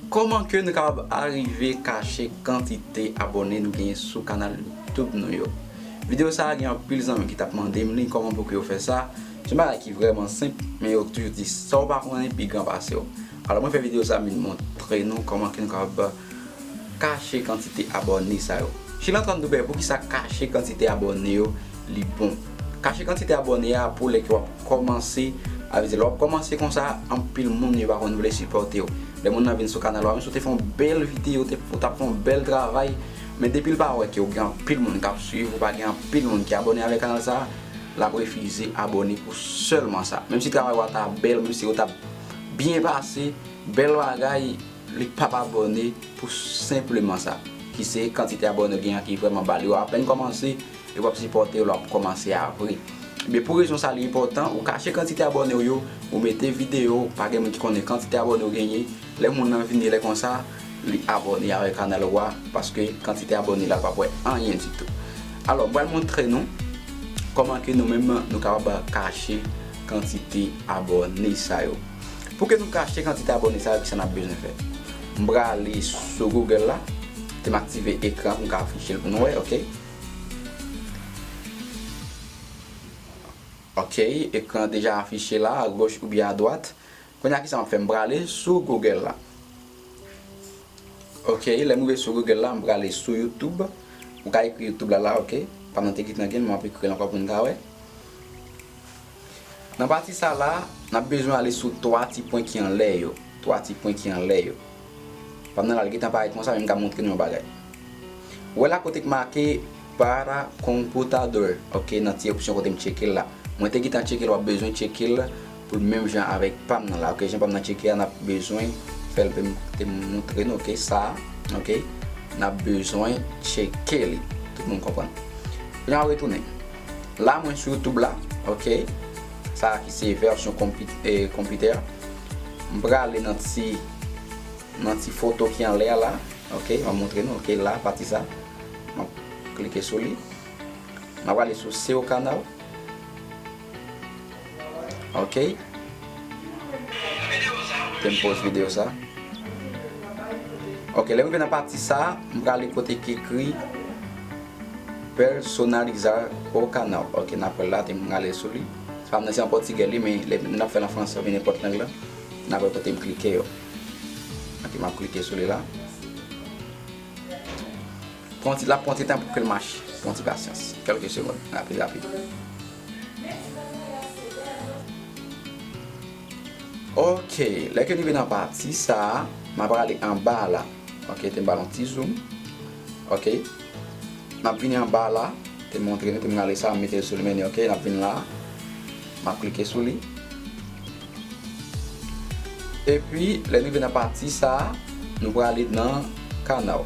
Koman ke nou kapab arive kache kantite abòne nou genyen sou kanal youtube nou yo? Video sa gen anpil zanmi ki tap mandem li koman pou ke yo fè sa, se yon bagay ki vrèman senp men yo toujou di sa ou pa konnen pi gran pase w. Alò mwen fè video sa vin montre nou koman ke nou kapab kache kantite abòne sa yo. Chilantrandoube poukisa kache kantite abòne yo li bon. Kache kantite abòne a pou lè ke wap kòmanse a vize lè wap kòmanse konsa anpil moun yo pa konn vle sipòtew lè moun nan vin sou kanal ou a menm si ou te fè yon bèl video ou te ou tap fè yon bèl travay men depil pa wè ke ou gen anpil moun kap swiv ou pa gen anpil moun ki abòne avè kanal sa lap refize abòne pou sèlman sa menm si travay ou a ta bèl menm si ou tap byen pase bèl bagay. Li pap abòne pou senpleman sa. Ki se kantite abòne ou gen an ki vrèman ba. Li wè apèn kòmanse epi wap sipòte l wap kòmanse a vre. Ebyen pou rezon sa li enpòtan ou kache kantite abòne ou yo, ou mete videyo, pa gen moun ki konnen kantite abòne ou genyen. Lè moun nan vini lè konsa li abòne avèk kanal ou a paske kantite abòne la l pap wè anyen ditou. Alò m pral montre nou kòman ke nou menm nou kapab kache kantite abòne sa yo. Pou ke nou ka achte kantite abone sa yo kisa nap bezwen fè? M prale sou Google la e m aktive ekran pou m ka afiche l pou nou wè ok. Ok ekran deja afiche la a goch oubyen a dwat. Kounya kisa map fè m prale sou Google la. Ok lè m rive sou Google la m prale sou YouTube. Ou ka ekri YouTube la la ok. Pandan te git nan gen map ekri l ankò pou nou ka wè. Nan pati sa la, n ap bezwen ale sou 3 ti pwen ki anlè yo. 3 ti pwen ki anlè yo. Pandan l al gentan parèt konsa men m ka montre nou yon bagay. Ou wè la kote ki make Para Computador, ok, nan ti opsyon kote m tcheke l la. Mwen te gentan tcheke l, w ap bezwen tcheke l pou l menm jan avèk pa m nan la, ok. Jan pa m nan tcheke a, n ap bezwen fè l m te montre nou, ok, sa a, ok. N ap bezwen tcheke li. Tout moun konprann? Lè n al retounen. La mwen sou youtube la ok. Sa a ki se vèsyon konpitè. M prale nan ti nan ti foto ki anlè a la ok. M ap montre nou ok la pati sa. M ap klike sou li. M ap prale sou seo kanal. Okay. Ke m poz video sa. Okay, lè m rive nan pati sa, m prale kote ki ekri Personalizar o canal. Okay, na pral la, te m prale sou li. Se pa m nan se an pòtigè li, men lè m ap fè l an fransè oubyen nenpòt lang la, na wè kote m klike yo. Okay, m ap klike sou li la. Pran ti, l ap pran ti tan pou ke l mache. Pran ti pasyans. Kelke segond. Rapid, rapid. Mèsi bèl bagay se bèl wi. Ok lè ke rive nan pati sa map ale anba la ok tem bal yon ti zoom ok map vini anba la tem montre nou tem rale sa metel sou li meni ok nap vin la map klike sou li epi lè rive nan pati sa nou prale nan kanaw.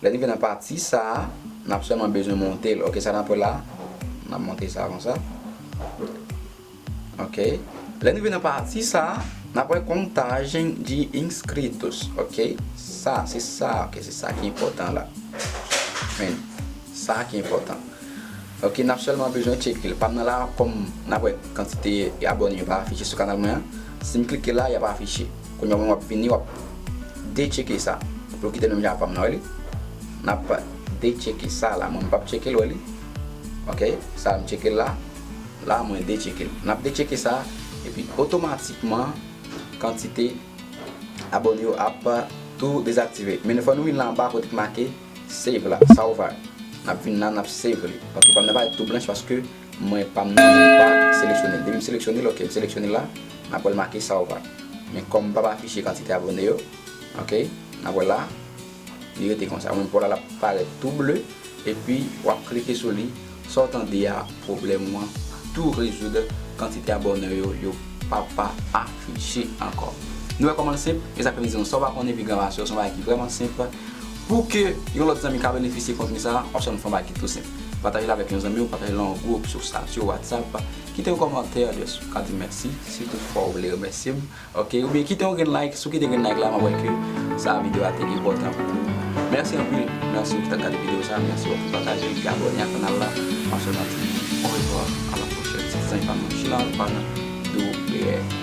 Lè rive nan pati sa a, n ap sèlman bezwen monte l. Ok, sa n ap wè la, n ap monte sa konsa. Ok, lè n rive nan pati sa a, n ap wè contagem de inscritos. Ok, sa, se sa, ok, se sa ki enpòtan la. Men, sa ki enpòtan. Ok, n ap sèlman bezwen tcheke l. Pa m nan la, kòm n ap wè kantite abòne yo pa afiche sou kanal mwen an, si m klike la, y ap afiche. Kounya moun wap vini wap de tcheke sa pou l kite menm jan ak fanm nan wè li nap de tcheke sa la mwen m pap tcheke l wè li ok sa m tcheke l la la mwen de tcheke l nap de tcheke sa epi otomatikman kantite abone yo ap tou dezaktive men fò nou vin la anba kote ki make save la sa ou va nap vin la nap save li ok fanm nan pa ret tou blanch paske Mwen pa m nan menm pa seleksyone l. Depi m seleksyone l ok m seleksyone l la m ap wè l make sa ou pa. Men kòm m pap afiche kantite abone yo ok n ap wè la li rete konsa ou menm pou w la l ap parèt tou ble epi w ap klike sou li sa w tande a pwoblèm ou an tou rezoud kantite abone yo yo pa pa afiche ankò. Nou wè kòman l senp e sa k fè m di nou sa w pa konnen epi gran pase w se yon bagay ki vrèman senp pou ke yon lòt zanmi ka benefisye kontni sa wap sèlman fè yon bagay ki tou senp. Patajel avèk yon zanmiw, patajel an gwoup, sou status yo, whatsapp, kite yon kòmantè, just pou ka dim mèsi, si tout fwa ou vle remèsyem, ok, oubyen kite yon grenn like, si w kite grenn like la map wè ke sa video a te enpòtan pou ou. Mèsi anpil, mèsi ou ki tap gade video sa, mèsi ou ki pataje l, ki abòne ak kanal la, map fèw yon ti orevoir, a la pwochèn, se te zanmi pa nou Chinard Pana Doubler.